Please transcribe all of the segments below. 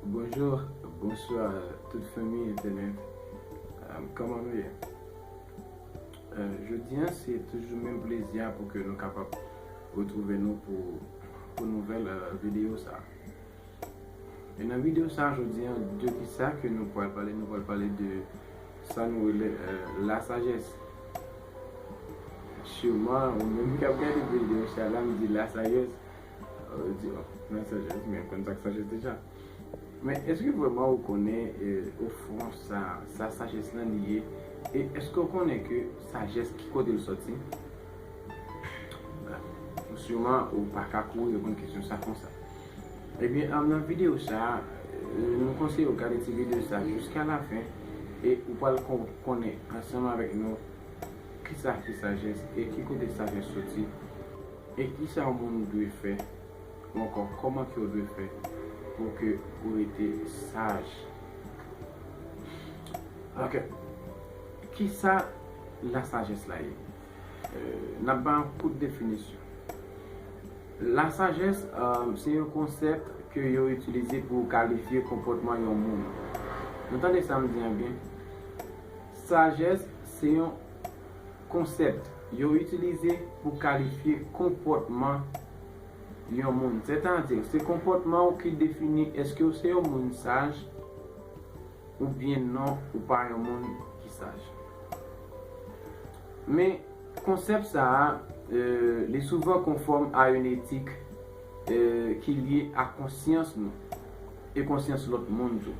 Bonjour bonswa tout fanmi entènèt Koman nou ye Jodi an se toujou menm plezi a pou ke nou kapab retwouve nou pou nouvèl videyo sa E nan videyo sa jodi an de ki sa ke nou pwal pale nou pwal pale de sa nou rele la sajès Siman ou menm ki ap gade videyo sa la m di la sajès Ou di oh nan sajès men ou konn sak sajès deja men eske vreman ou konnen o fon sa sa sajès lan li ye e eske ou konnen ke sajès ki kote l soti bon siman ou pa ka kouri reponn kesyon sa konsa ebyen nan videyo sa nou konseye ou gade ti videyo sa jiska la fen e ou pral konnen ansanm avèk nou kisa ki sajès e ki kote sajès soti. E kisa yon moun dwe fè ou ankò kòman kew dwe fè pou ke ou rete saj? Ok kisa la sajès la ye? Nap bay yon kout definisyon. La sajès se yon konsèp ke yo itilize pou kalifye konpòtman yon moun. Nou tande sam di an byen? Sajès se yon. Konsèpt, Yo itilize pou kalifye konpòtman yon moun. Sètadi, se konpòtman ou ki defini èske ou se yon moun saj oubyen non ou pa yon moun ki saj. Men, konsèpt sa a, li souvan konfòm a yon etik ki lye a konsyans nou e konsyans lòt moun tou.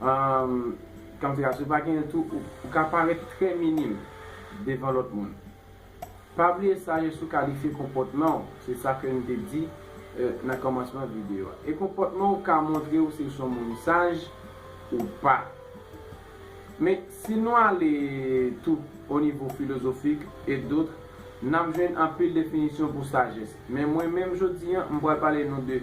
Umm Kanfira si w pa genyen tou ou ka parèt trè minim devan lòt moun. Pa bliye sa yo sou kalifye konpòtman w se sa ke n te di nan kòmansman videyo a. E konpòtman w ka montre w si w se yon moun saj ou pa. Men si nou ale tou o nivo filozofik et d'autres n ap jwenn anpil definisyon pou sajès. Men mwen menm jodi an m pral pale nou de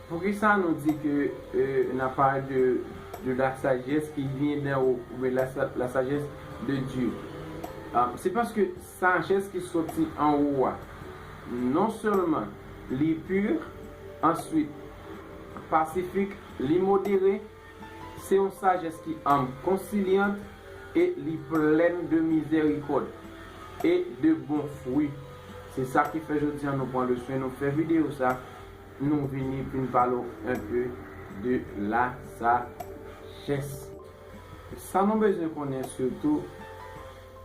Poukisa nou di ke n ap pale de de la sajès ki vyen dèn wo oubyen la sajès de Dye? Se paske sajès ki soti anwo a non sèlman li pu, answit pasifik, li modere, se yon sajès ki anm, konsilyant e li plèn de mizèrikòd e de bon fwi. Se sa ki fè jodi a nou pran le swen nou fè videyo sa. Nou vini pou n pale w un peu de la sagesse. Sa nou bezwen konnen surtout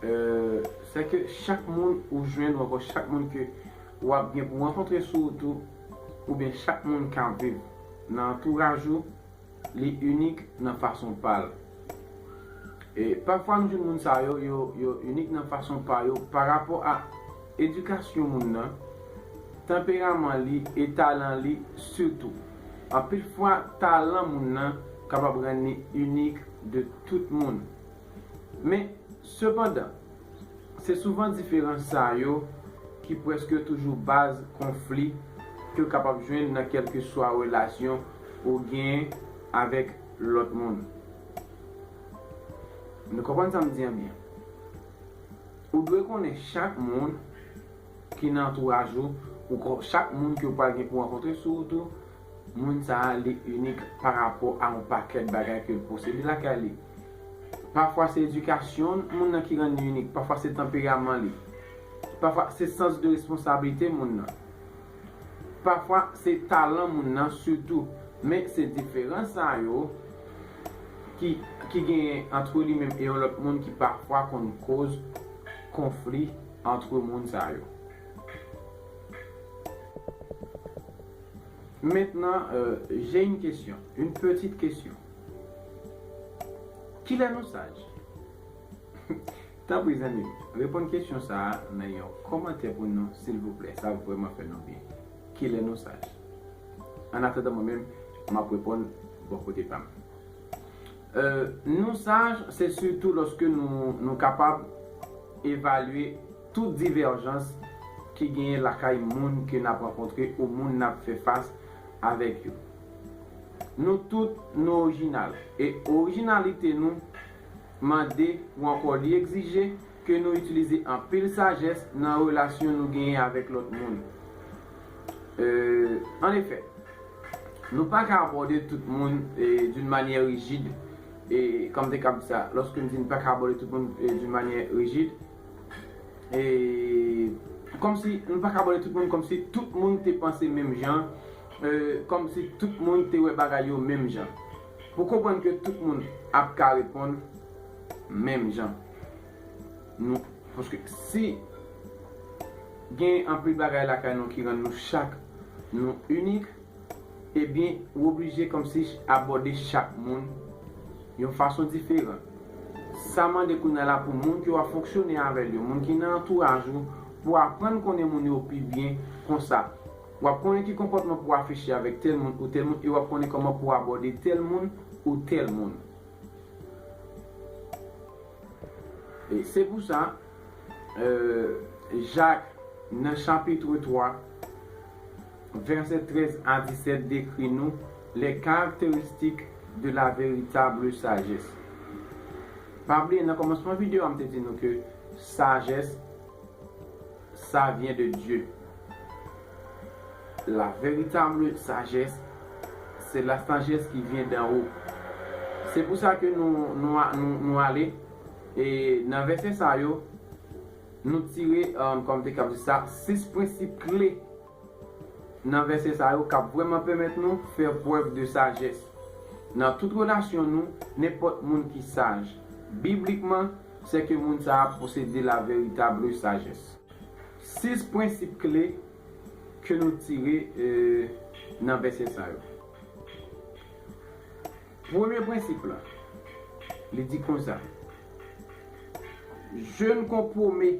c'est que chak moun ou jwenn ou ankò chak moun ke w ap gen pou rankontre sou wout ou oubyen chak moun k ap viv nan antouraj ou, li inik nan fason pa l. E pafwa nou jwenn moun sa yo, yo inik nan fason pa yo parapò a edikasyon moun nan, tanperaman li e talan li sitou. Anpil fwa talan moun nan kapab rann li inik de tout moun. Men, sepandan. Se souvan diferans sa yo ki prèske toujou baz konfli ke w kapab jwenn nan kèlkeswa relasyon ou gen avèk lòt moun. Nou konprann sa m di an byen? Ou dwe konnen chak moun ki nan antouraj ou, chak moun ke w pral gen pou rankontre sou wout ou, Moun sa a li inik pa rapò a yon pakèt bagay ke l posede lakay li. Pafwa se edikasyon moun nan ki rann li inik, pafwa se tanperaman li, pafwa se sans de responsablite moun nan, pafwa se talan moun nan sitou. Men se diferans sa yo ki genyen antre li menm e yon lòt moun ki pafwa konn koz konfli antre moun sa yo. Maintenant j'ai une question, une petite question Kilè nou saj? Tanpri zanmim reponn kesyon sa nan yon kòmantè pou nou silvouplè sa ap vrèman fè nou byen Kilè nou saj? Annatandan mwen menm m ap reponn bò kote pa m Nou saj se sitou lòske nou kapab evalye Tout divèjans ki genyen lakay moun ke nap rankontre ou moun nap fè fas avèk yo. Nou tout nou orijinal e orijinalite nou mande ou ankò li egzije ke nou itilize anpil sajès nan relasyon nou genyen avèk lòt moun. En efè, nou pa ka abòde tout moun d'une manière rigide, e kòm te kab di sa, lòske m di nou pa ka abòde tout moun d'une manière rigide, Eee Kòmsi nou paka abòne tout moun kòmsi tout moun te panse menm jan Eee Kòmsi tout moun te wè bagay yo menm jan Pou konprann ke tout moun ap ka reponn menm jan Nou Paske si Gen anpil bagay lakay nou ki rann nou chak nou inik. Ebyen ou oblije kòmsi abòde chak moun yon fason diferan. Sa mande kounya la pou moun ke wap fonksyone avèl yo, moun ki nan antouraj ou pou aprann konnen moun yo pi byen, konsa wap konnen ki konpòtman pou afiche avèk tèl moun ou tèl moun e wap konnen kòman pou abòde tèl moun ou tèl moun. Se pou sa, Jak, nan chapitre 3, vèsè 13 a 17, dekri nou les caractéristiques de la véritable sagesse. Pa bliye nan kòmansman videyo a m te di nou ke sajès, Sa vyen de Dye. La veritable sagesse, se la sagesse ki vyen dan wo. Se pou sa ke nou ale, e nan vèsè sa yo, nou tire, kòm te kab di sa, 6 prensip kle. Nan vèsè sa yo k ap vrèman pèmèt nou fè prèv de sajès nan tout relasyon nou, nenpòt moun ki saj, biblikman, sèke moun sa a posede la veritable sajès. Sis prensip kle ke nou tire nan vèsè sa yo. Premye prensip la, li di konsa, Je ne compromets.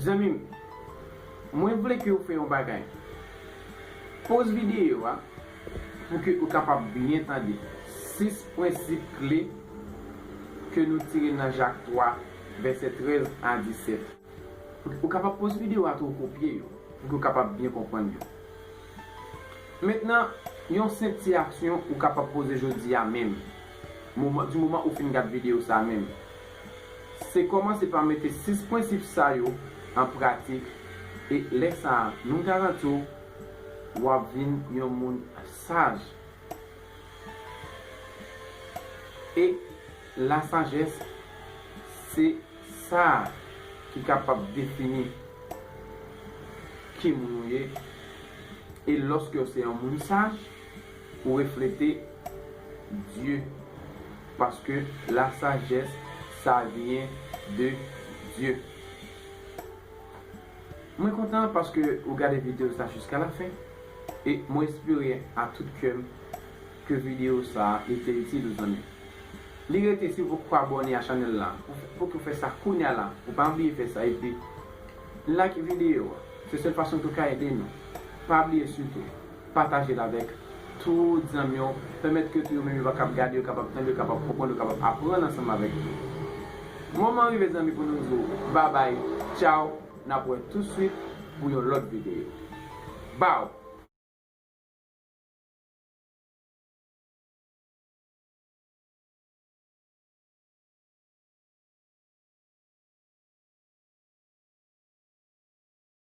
Zanmim Mwen vle ke ou fè yon bagay Poz videyo a pou ke ou kapab byen tande 6 prensip kle ke nou tire nan Jak 3 vèsè 13 a 17 pou ke ou kapab poz videyo a tou kopye yo pou ke ou kapab byen konprann yo Mentnan yon senp ti aksyon ou kapab poze jodi a menm moman di moman ou fin gad videyo sa menm Se kòmanse pa mete 6 prensip sa yo an pratik e lè sa a nou garanti w w ap vin yon moun saj. E lasajès se sa a ki kapab defini ki moun ou ye e lòske w se yon moun saj, Ou reflete Dye paske la sajès sa vyen de Dye. Mwen kontan paske ou gade video sa jiska la fen e mwen espere a tout kèm ke video sa li te itil ou zanmim. Li rete si ou poko abòne a chanèl la pou ke ou fè sa kounya la ou pa bliye fè sa epi like video a se sèl fason ke ou ka ede nou pa bliye sitou. Pataje l avèk tout zanmi w. Pèmèt ke tou yo menm yo kapab gade, yo kapab tande, yo kapab konprann, yo kapab aprann ansanm avèk nou. Moman an rive zanmi pou nou di w babay, tchaw, n ap wè touswit pou yon lòt videyo. Baww!